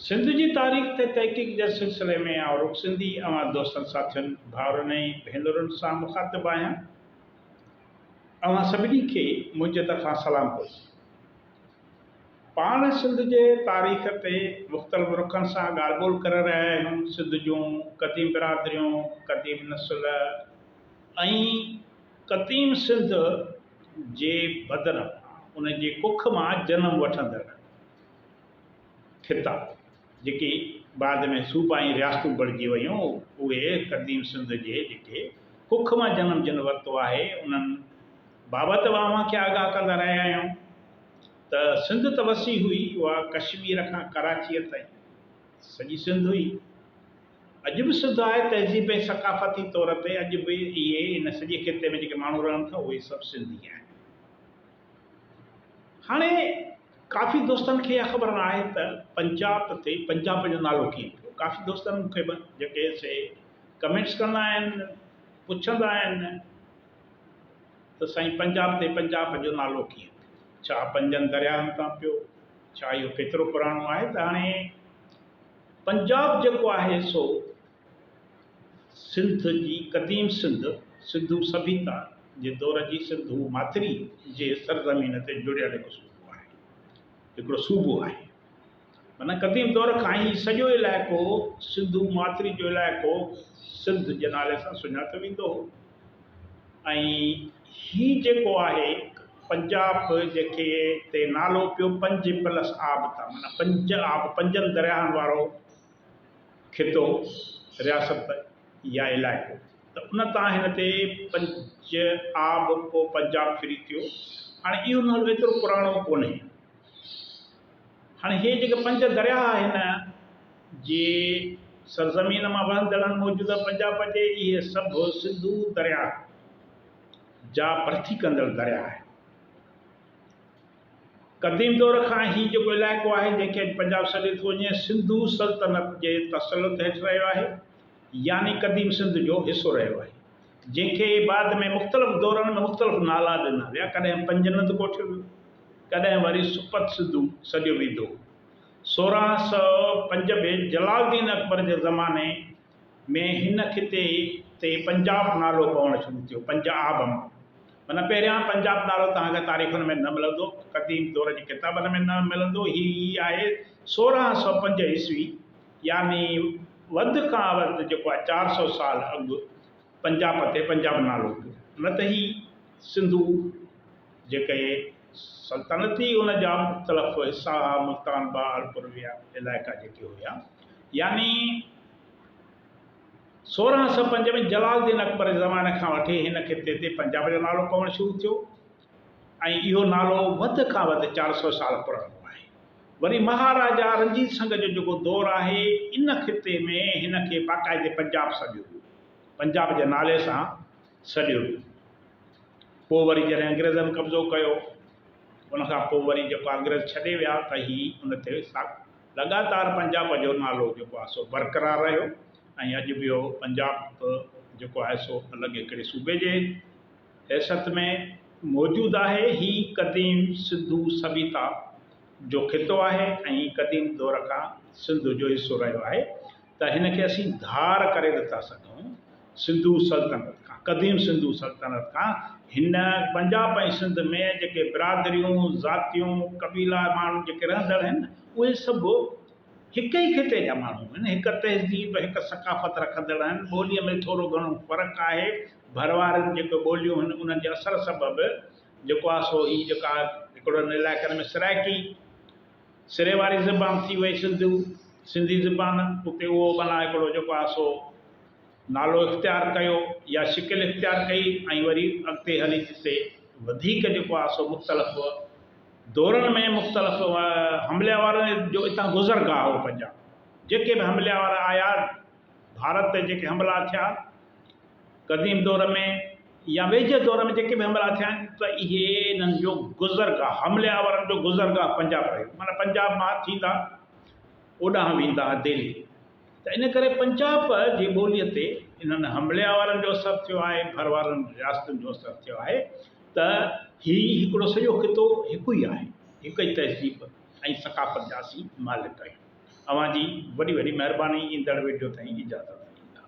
سنڌ جي تاريخ تي تحقيق جي سلسلي ۾ آئون رڳ سنڌي اوهان دوستن ساٿين ڀائرن ۽ ڀينرن سان مخاطب آهيان اوهان سڀني کي منهنجي طرفان سلام پرسي پاڻ سنڌ جي تاريخ تي مختلف رخن سان ڳالهه ٻولهه ڪري رهيا آهيون سنڌ جون قديم برادريون قديم نسل ۽ قديم سنڌ جي بدران ان جي ڪک مان جنم وٺندڙ خطا جيڪي بعد ۾ صوبا ۽ رياستون بڻجي ويون اهي قديم سنڌ جي جيڪي ڪک مان جنم جن ورتو آهي انهن بابت به اوهان کي آگاهه ڪندا رهيا آهيون ته سنڌ ته وسيع هئي اها ڪشمير کان ڪراچيء تائين سڄي سنڌ هئي. اڄ به سڌ آهي، تهذيب ۽ ثقافتي طور تي اڄ به اهي هن سڄي خطي ۾ جيڪي ماڻهو رهن ٿا اهي سڀ سنڌي آهن. هاڻي ڪافي دوستن کي اها خبر نه آهي ته پنجاب تي پنجاب جو نالو ڪيئن پيو، ڪافي دوستن مون کي جيڪي سي ڪمينٽس ڪندا آهن پڇندا آهن ته سائين پنجاب تي پنجاب جو نالو ڪيئن پيو، ڇا پنجن درياهن تان پيو، ڇا اهو ڪيترو پراڻو آهي ته هاڻي پنجاب جيڪو آهي سو سنڌ جي قديم سنڌ، سنڌو سڀيتا، جي دور جي سنڌو ماٿري جي سرزمين تي جڙيل هڪ صوبو آهي. هڪڙو صوبو آهي. معنيٰ قديم دور کان هي سڄو علائقو سنڌو ماٿري جو علائقو سنڌ جي نالي سان سڃاتو ويندو هو. ۽ هي جيڪو آهي پنجاب جيڪي تي نالو پيو پنج پلس آب تان معنيٰ پنج آب پنجن درياهن وارو خطو رياست يا علائقو ته ان تان هن تي پنج آب پو پنجاب ڦري ٿيو هاڻي اهو نالو ايترو پراڻو ڪونهي. هاڻي هي جيڪي پنج درياهه آهن جي سرزمين مان وهندڙن موجوده پنجاب اچي اهي سڀ سنڌو درياهه جا ڀرتي ڪندڙ درياهه آهن. قديم دور کان هي جيڪو علائقو آهي جنهن کي اڄ پنجاب سڏيو ٿو وڃي سنڌو سلطنت جي تسلط هيٺ رهيو آهي يعني قديم سنڌ جو حصو رهيو آهي. جنهن کي بعد ۾ مختلف دورن ۾ مختلف نالا ڏنا ويا، ڪڏهن پنجنڌ ڪوٺيو ويو، ڪڏهن وري سپت سنڌو سڏيو ويندو هو. سورهن سؤ پنج ۾ جلال الدين اڪبر جي زماني ۾ هن خطي تي پنجاب نالو پوڻ شروع ٿيو، پنج آب مان معنيٰ پهريان پنجاب نالو توهان کي تاريخن ۾ نه ملندو، قديم دور جي ڪتابن ۾ نه ملندو، هي ئي آهي سورهن سؤ پنج عيسوي. يعني وڌ کان وڌ جيڪو آهي چار سؤ سال اڳ پنجاب اٿي پنجاب نالو پيو نه ته هي سنڌو جيڪي سلطنت هئي ان جا مختلف حصا هئا ملتان بهاولپور ويا علائقا جيڪي هيا يعني سورهن سؤ پنج ۾ جلال الدين اڪبر جي زماني کان وٺي هن خطي تي پنجاب جو نالو پوڻ شروع ٿيو ۽ اهو نالو وڌ کان وڌ چار سؤ سال پراڻو آهي. وري مهاراجا رنجيت سنگهه جو جيڪو دور آهي، ان خطي ۾ هن کي باقاعدي پنجاب سڏيو ويو. پنجاب جي نالي سان سڏيو ويو. پوء وري جڏهن انگريزن قبضو ڪيو، ان کان پوء وري جيڪو آهي انگريز ڇڏي ويا ته هي ان تي لڳاتار پنجاب جو نالو جيڪو آهي سو برقرار رهيو ۽ اڄ به اهو پنجاب جيڪو آهي سو الڳ هڪڙي صوبي جي حيثيت ۾ موجود آهي. هي قديم سنڌو سڀيتا جو خطو آهي ۽ قديم دور کان سنڌ جو حصو رهيو آهي ته هن کي اسين ڌار ڪري نٿا سگهون سنڌو سلطنت کان قديم سنڌو سلطنت کان هن پنجاب ۽ سنڌ ۾ جيڪي برادريون ذاتيون قبيلا ماڻهو جيڪي رهندڙ آهن اهي سڀ هڪ ئي خطي جا ماڻهو آهن، هڪ تهذيب، هڪ ثقافت رکندڙ آهن، ٻوليء ۾ ٿورو گهڻو فرق آهي، ڀر واريون جيڪي ٻوليون آهن انهن جي اثر سبب جيڪو آهي سو هي جيڪا هڪڙن علائقن ۾ سرائڪي سري واري زبان ٿي وئي سنڌو سنڌي زبان اتي اهو معنيٰ هڪڙو جيڪو آهي سو نالو اختيار ڪيو يا شڪل اختيار ڪئي ۽ وري اڳتي هلي جتي وڌيڪ جيڪو آهي سو مختلف دورن ۾ مختلف حملي وارن جو اتان گذر گاهه هو پنجاب جيڪي به حملي وارا آيا ڀارت تي جيڪي حملا ٿيا قديم دور ۾ يا ويجهي دور ۾ جيڪي به حملا ٿيا آهن ته اهي انهن جو گذر گاهه حملي وارن جو گذر گاهه پنجاب رهيو معنيٰ پنجاب مان ٿيندا اوڏانهن ويندا دهلي ته ان ڪري پنجاب جي ٻوليء تي انهن حمليا وارن جو اثر ٿيو آهي، ڀر وارن رياستن جو اثر ٿيو آهي ته هي هڪڙو سڄو خطو هڪ ئي آهي، هڪ ئي تهذيب ۽ ثقافت جا اسين مالڪ آهيون. اوهان جي وڏي وڏي مهرباني ايندڙ وڊيو تائين اجازت ڏيندا.